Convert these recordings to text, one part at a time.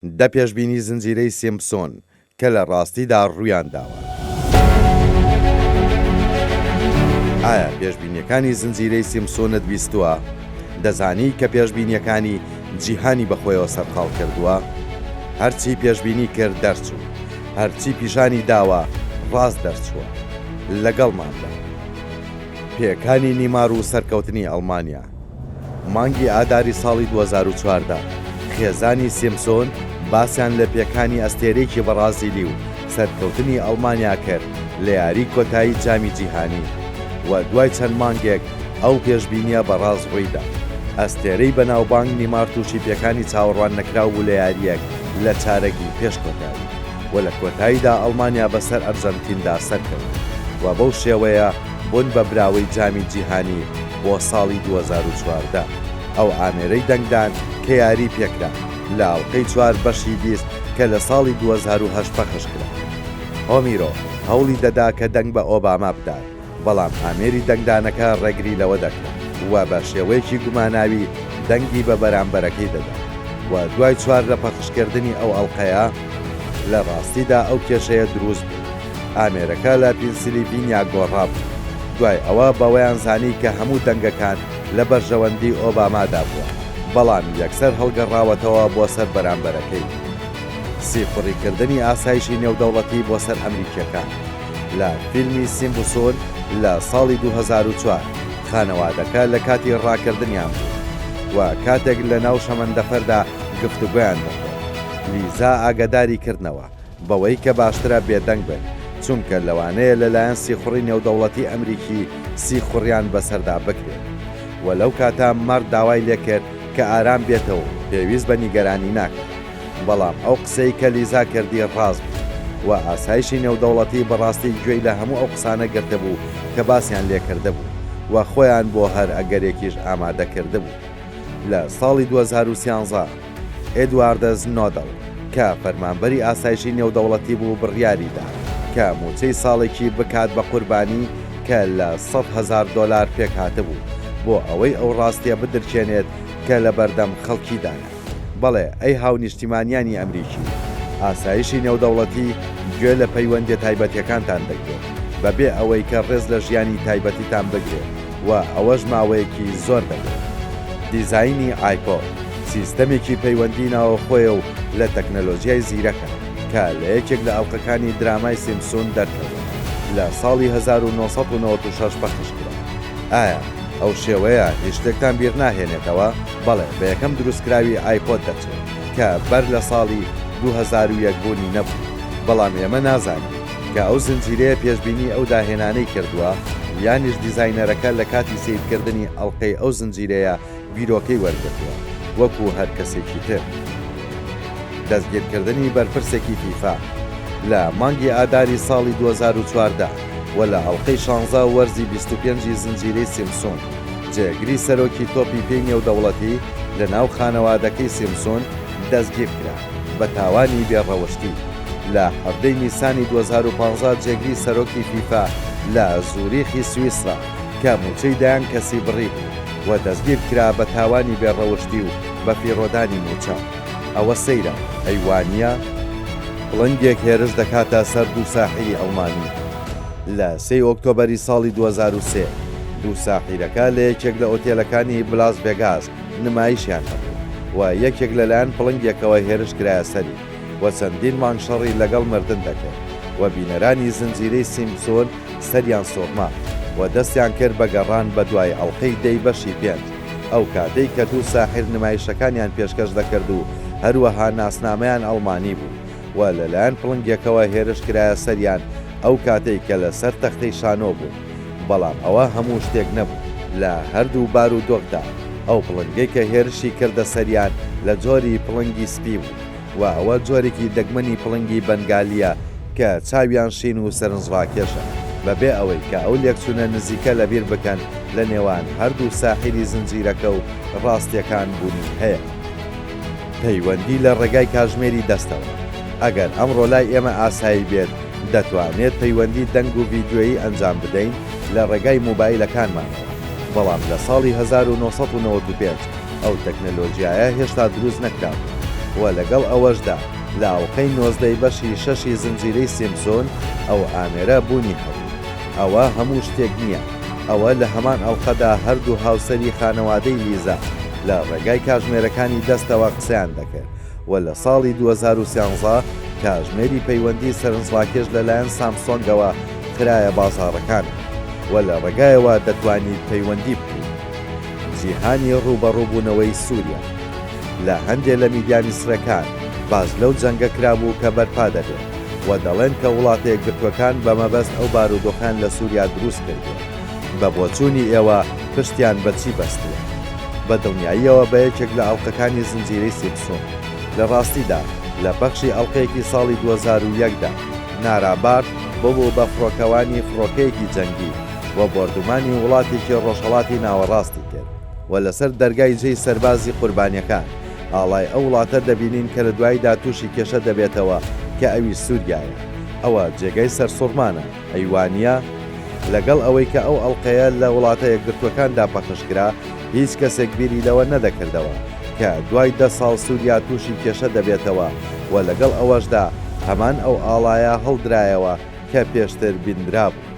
دە پێشبینی زنجیرەی سیمپسۆن کە لە ڕاستیدا ڕوویان داوە. ئایا پێشبینیەکانی زنجیرەی سیمپسۆنت بیستووە؟ دەزانی کە پێشبینیەکانی جیهانی بەخۆیەوە سەرقاڵ کردووە؟ هەرچی پێشبینی کرد دەرچوو، هەرچی پیشانی داوە ڕاست دەرچووە. لەگەڵمانبە. پێکانی نیمار و سەرکەوتنی ئەڵمانیا. مانگی ئاداری ساڵی دوو هەزار و چواردە، خێزانی سیمسۆن باسیان لە پێکانی ئەستێرەیەکی بەڕازیلی و سەرکەوتنی ئەڵمانیا کرد لە یاریی کۆتایی جامی جیهانی و دوای چەند مانگێک ئەو پێشبینییە بە ڕاست ڕووی دا. ئەستێرەی بەناوبانگ نیمار تووشی پێکانی چاوەڕوان نەکراو بوو لە یارییەک لە چارەگی پێش کۆتایی و لە کۆتاییدا ئەڵمانیا بەسەر ئەرجەنتیندا سەرکەوت و بەو شێوەیە بوون بە براوەی جامی جیهانی بۆ ساڵی دوو هەزار و چواردە، ئەو ئامێرەی دەنگدان کە یاری پێکرا لە ئەڵقەی چوار بەشی بیست کە لە ساڵی دوو هەزار و هەشت پەخش کرا. هۆمیرۆ هەوڵی دەدا کە دەنگ بە ئۆباما بدات، بەڵام ئامێری دەنگدانەکە ڕێگری لەوە دەکرد و بە شێوەیەکی گوماناوی دەنگی بە بەرامبەرەکەی دەدا و دوای چوار لە پەخشکردنی ئەو ئەڵقەیە، لە ڕاستیدا ئەو کێشەیە دروست بوو. ئامێرەکە لە پینسیلیڤینیا گۆڕابوو، دوای ئەوە بەوەیان زانی کە هەموو دەنگەکان لە بەرژەوەندی ئۆبامادا بووە، بەڵام یەکسەر هەڵگەڕاوەتەوە بۆ سەر بەرامبەرەکەی. سیخوڕیکردنی ئاسایشی نێودەوڵەتی بۆ سەر ئەمریکییەکان. لە فیلمی سیمبسون لە ساڵی دوو هەزار و چوار، خانەوادەکە لە کاتی ڕاکردنیان بوو و کاتێک لەناو شەمەندەفەردا گفتوگۆیان دەکرد، لیزا ئاگاداری کردنەوە. بەوەی کە باشترە بێدەنگ بن، چونکە لەوانەیە لەلایەن سیخوڕی نێودەوڵەتی ئەمریکی سیخوڕیان بەسەردا بکرێت و لەو کاتە مەڕ داوای لێکرد کە ئارام بێتەوە و پێویست بە نیگەرانی ناکات، بەڵام ئەو قسەی کە لیزا کردی ڕاست بوو و ئاسایشی نێودەوڵەتی بەڕاستی گوێی لە هەموو ئەو قسانە گرتبوو کە باسیان لێکردبوو و خۆیان بۆ هەر ئەگەرێکیش ئامادە کردبوو لە ساڵی دوو هەزار و سیانزە. ئێدواردە زنۆدڵ کە فەرمانبەری ئاسایشی نێودەوڵەتی بوو بڕیاریدا کە مووچەی ساڵێکی بکات بە قوربانی کە لە سەد هەزار دۆلار پێکهاتبوو بۆ ئەوەی ئەو ڕاستیە بدرکێنێت کە لەبەردەم خەڵکیدایە. بەڵێ ئەی هاونیشتیمانیانی ئەمریکی، ئاسایشی نێودەوڵەتی گوێ لە پەیوەندیە تایبەتیەکانتان دەگرێت بەبێ ئەوەی کە ڕێز لە ژیانی تایبەتیتان بگرێت. و ئەوەش ماوەیەکی زۆر دەبێت. دیزاینی ئایکۆ سیستەمێکی پەیوەندی ناوەخۆیە و لە تەکنەلۆژیای زیرەکە کە لە یەکێک لە ئەڵقەکانی درامای سیمپسون دەرکەوت لە ساڵی هەزار و نۆ سەد و نەوەد و شەش پەخش کرا. ئایا ئەو شێوەیە هیچ شتێکتان بیر ناهێنێتەوە؟ بەڵێ، بە یەکەم دروستکراوی ئایپۆد دەچێت کە بەر لە ساڵی دوو هەزار و یەک بوونی نەبوو، بەڵام ئێمە نازانین. کە ئەو زنجیرەیە پێشبینی ئەو داهێنانەی کردووە، یانیش دیزاینەرەکە لە کاتی سەیرکردنی ئەڵقەی ئەو زنجیرەیە بیرۆکەی وەرگرتووە وەکو هەر کەسێکی تر. دەستگیرکردنی بەرپرسێکی فیفا لە مانگی ئاداری ساڵی دوو هەزار و چواردە و لە ئەڵقەی شانزە وەرزی بیست و پێنج ی زنجیرەی سیمسون، جێگری سەرۆکی تۆپی پێی نێودەوڵەتی لەناو خانەوادەکەی سیمسون دەستگیرکرا بە تاوانی بێڕەوشتی. لە حەڤدەی نیسانی دوو هەزار و پازدە جێگری سەرۆکی فیفا لە زوریخی سویسرا کە مووچەی دەیان کەسی بڕیبوو و دەستگیرکرا بە تاوانی بێ ڕەوشتی و بەفیڕۆدانی مووچە. ئەوە سەیرە، ئەی وانییە؟ پڵنگێک هێرش دەکاتە سەر دوو ساحیری ئەڵمانی. لە سێی ئۆکتۆبەری ساڵی دوو هەزار و سێ، دوو ساحیرەکە لە یەکێک لە ئۆتێلەکانی بلاس ڤێگاس نمایشیان هەبوو و یەکێک لەلایەن پڵنگێکەوە هێرش کرایە سەری. و چەندین مانگ شەڕی لەگەڵ مردن دەکرد و بینەرانی زنجیرەی سیمپسۆن سەریان سوڕما و دەستیان کرد بە گەڕان بە دوای ئەڵقەی دەی بەشی پێنج ئەو کاتەی کە دوو ساحیر نمایشەکانیان پێشکەش دەکرد و هەروەها ناسنامەیان ئەڵمانی بوو و لەلایەن پڵنگێکەوە هێرش کرایە سەریان ئەو کاتەی کە لە سەر تەختەی شانۆ بوون بەڵام ئەوە هەموو شتێک نەبوو. لە هەردوو بارودۆخدا ئەو پڵنگەی کە هێرشی کردە سەریان لە جۆری پڵنگی سپی بوو. و ئەوە جۆرێکی دەگمەنی پڵنگی بەنگالییە کە چاویان شین و سەرنجڕاکێشە، بەبێ ئەوەی کە ئەو لێکچوونە نزیکە لەبیر بکەن لە نێوان هەردوو ساحیری زنجیرەکە و ڕاستییەکان بوونی هەیە. پەیوەندی لە ڕێگای کاژمێری دەستەوە، ئەگەر ئەمڕۆ لای ئێمە ئاسایی بێت، دەتوانێت پەیوەندی دەنگ و ڤیدیۆیی ئەنجام بدەین لە ڕێگای مۆبایلەکانمانەوە، بەڵام لە ساڵی هەزار و نۆ سەد و نەوەد و پێنج ئەو تەکنەلۆجیایە هێشتا دروست نەکرابوو و لەگەڵ ئەوەشدا لە ئەڵقەی نۆزدەی بەشی شەشی زنجیرەی سیمپسۆن ئەو ئامێرە بوونی هەبوو. ئەوە هەموو شتێک نییە، ئەوە لە هەمان ئەڵقەدا هەردوو هاوسەری خانەوادەی لیزا لە ڕێگای کاژمێرەکانی دەستەوە قسەیان دەکرد و لە ساڵی دوو هەزار و سیانزە کاژمێری پەیوەندی سەرنجڕاکێش لەلایەن سامسۆنگەوە خرایە بازاڕەکانەوە و لە ڕێگایەوە دەتوانیت پەیوەندی بکەیت. جیهانی ڕووبەڕووبوونەوەی سووریا. لە هەندێ لە میدیا میسرەکان باس لەو جەنگە کرابوو کە بەرپا دەبێت و دەڵێن کە وڵاتە یەکگرتووەکان بە مەبەست ئەو بارودۆخەیان لە سووریا دروست کردووە. بە بۆچوونی ئێوە پشتیان بە چی بەستووە؟ بە دڵنیاییەوە بە یەکێک لە ئەڵقەکانی زنجیرەی سیمپسۆن. لە ڕاستیدا لە بەخشی ئەڵقەیەکی ساڵی دوو هەزار و یەک دا، نارا بارت ببوو بە فڕۆکەوانی فڕۆکەیەکی جەنگی، و بۆردومانی وڵاتێکی ڕۆژهەڵاتی ناوەڕاستی کرد و لەسەر دەرگای جێی سەربازی قوربانیەکان ئاڵای ئەو وڵاتە دەبینین کە لە دوایدا توشی کێشە دەبێتەوە کە ئەویش سوریایە ئەوە جێگای سەرسوڕمانە ئەی وانیە؟ لەگەڵ ئەوەی کە ئەو ئەڵقەیە لە وڵاتە یەکگرتوەکاندا پەخش کرا هیچ کەسێک بیری لەوە نەدەکردەوە کە دوای دە ساڵ سوریا توشی کێشە دەبێتەوە و لەگەڵ ئەوەشدا هەمان ئەو ئاڵایە هەڵدرایەوە کە پێشتر بینرابوو.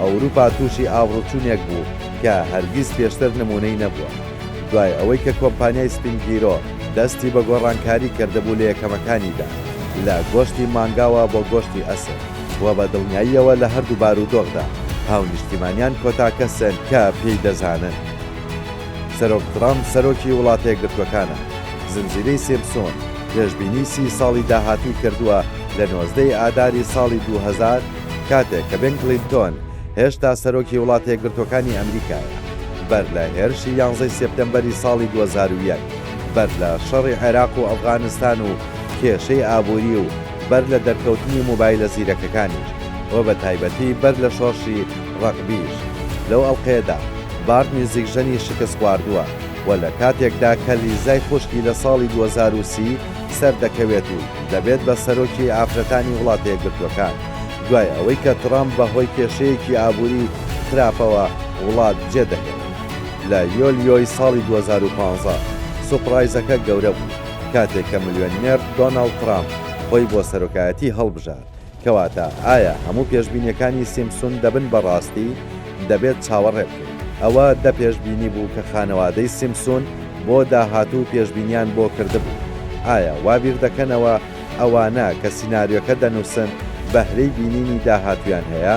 ئەوروپا تووشی ئاوڕچوونێک بوو کە هەرگیز پێشتر نموونەی نەبووە. دوای ئەوەی کە کۆمپانیای سپینگیرۆ دەستی بە گۆڕانکاری کردبوو لە یەکەمەکانیدا، لە گۆشتی مانگاوە بۆ گۆشتی ئەسپ، و بە دڵنیاییەوە لە هەردوو بارودۆخدا هاونیشتیمانیان کۆتاکەسن کە پێی دەزانن. سەرۆک ترەمپ سەرۆکی وڵاتەیەکگرتووەکانە. زنجیرەی سیمپسون پێشبینیی سی ساڵی داهاتووی کردووە لە نۆزدە ی ئاداری ساڵی دوو هەزار، کاتێک کە بێن کلینتۆن هێشتا سەرۆکی وڵاتە یەکگرتووەکانی ئەمریکایە، بەر لە هێرشی یانزەی سێپتەمبەری ساڵی دوو هەزار و یەک، بەر لە شەڕی عێراق و ئەفغانستان و کێشەی ئابووری و بەر لە دەرکەوتنی مۆبایلە زیرەکەکانیش و بە تایبەتی بەر لە شۆڕشی ڕەگبیش. لەو ئەڵقەیەدا بارت میوزیک ژەنی شکستخواردووە و لە کاتێکدا کە لیزای خوشکی لە ساڵی دوو هەزار و سی، سەردەکەوێت و دەبێت بە سەرۆکی ئافرەتانی وڵاتە یەکگرتووەکان، دوای ئەوەی کە ترەمپ بەهۆی کێشەیەکی ئابووری خراپەوە وڵات جێدەهێڵێت. لە یۆلیۆی ساڵی دوو هەزار و پازدە سوپڕایزەکە گەورە بوو کاتێک کە ملیۆنێر دۆناڵد ترەمپ خۆی بۆ سەرۆکایەتی هەڵبژارد، کەواتە ئایا هەموو پێشبینیەکانی سیمپسون دەبن بە ڕاستی؟ دەبێت چاوەڕێ بکەین. ئەوە دە پێشبینی بوو کە خانەوادەی سیمپسون بۆ داهاتوو پێشبینیان بۆ کردبوو. ئایا وا بیر دەکەنەوە ئەوانە کە سیناریۆکە دەنووسن بەهرەی بینینی داهاتوویان هەیە؟